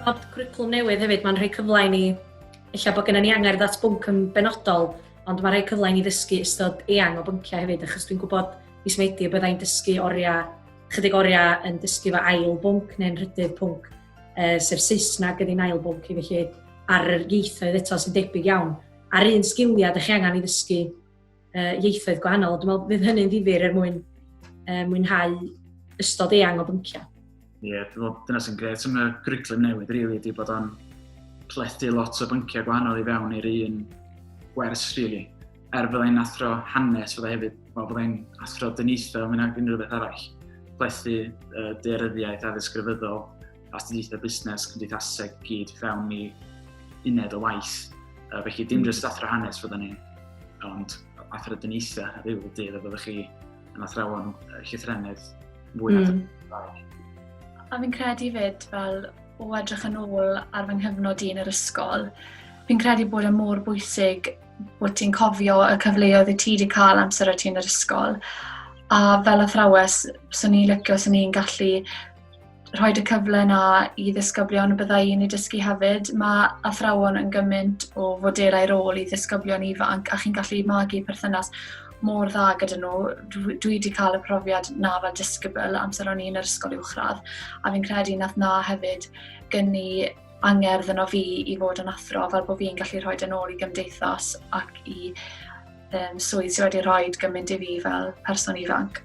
Bod cwricwlwm newydd hefyd, mae'n rhoi cyfle i ni, illa bod gennym ni angerdd at bwnc yn benodol, ond mae'n rhoi cyfle i ni ddysgu ystod eang o bynciau hefyd, achos dwi'n gwybod mis Medi y byddai'n dysgu oriau, chydig oriau yn dysgu fy ail bwnc neu'n rhydydd pwnc, uh, sef Saesneg ydy'n ail bwnc i felly ar yr ieithoedd eto sy'n debyg iawn, a'r un sgiliau ydych chi angen i ddysgu uh, ieithoedd gwahanol. Dwi'n meddwl bydd hynny'n ddifur er mwyn uh, mwynhau ystod eang o bynciau. Ie, yeah, dwi'n meddwl dyna sy'n gret am y gwriclum newydd, rili, really, bod o'n plethu lot o bynciau gwahanol i fewn i'r un gwers, rili. Really. Er byddai'n athro hanes, fyddai hefyd, wel, byddai'n athro dyniaethau, mynd ag unrhyw beth arall. Plethu uh, dearyddiaeth a ddisgrifyddol, astudiaethau busnes, cymdeithaseg i gyd fewn i uned o waith. Uh, felly dim jyst athro hanes fyddwn ni, ond athro dyniaethau a rhyw dydd a fyddwch chi yn athrawon llythrennydd mwy na mm. A fi'n credu fyd fel o edrych yn ôl ar fy nghyfnod i yn yr ysgol, fi'n credu bod yn e mor bwysig bod ti'n cofio y cyfleoedd y ti wedi cael amser o ti yn yr ysgol. A fel athrawes, swn i'n licio, swn i'n gallu rhoi y cyfle yna i ddisgyblion y byddai yn ei dysgu hefyd. Mae athrawon yn gymaint o fodelau rôl i ddisgyblion ifanc a chi'n gallu magu perthynas mor dda gyda nhw. Dwi, dwi wedi cael y profiad na fel disgybl amser o'n i'n yr ysgol uwchradd a fi'n credu nath na hefyd gynnu angerdd yno fi i fod yn athro fel bod fi'n gallu rhoi yn ôl i gymdeithas ac i um, swydd sydd wedi rhoi gymaint i fi fel person ifanc.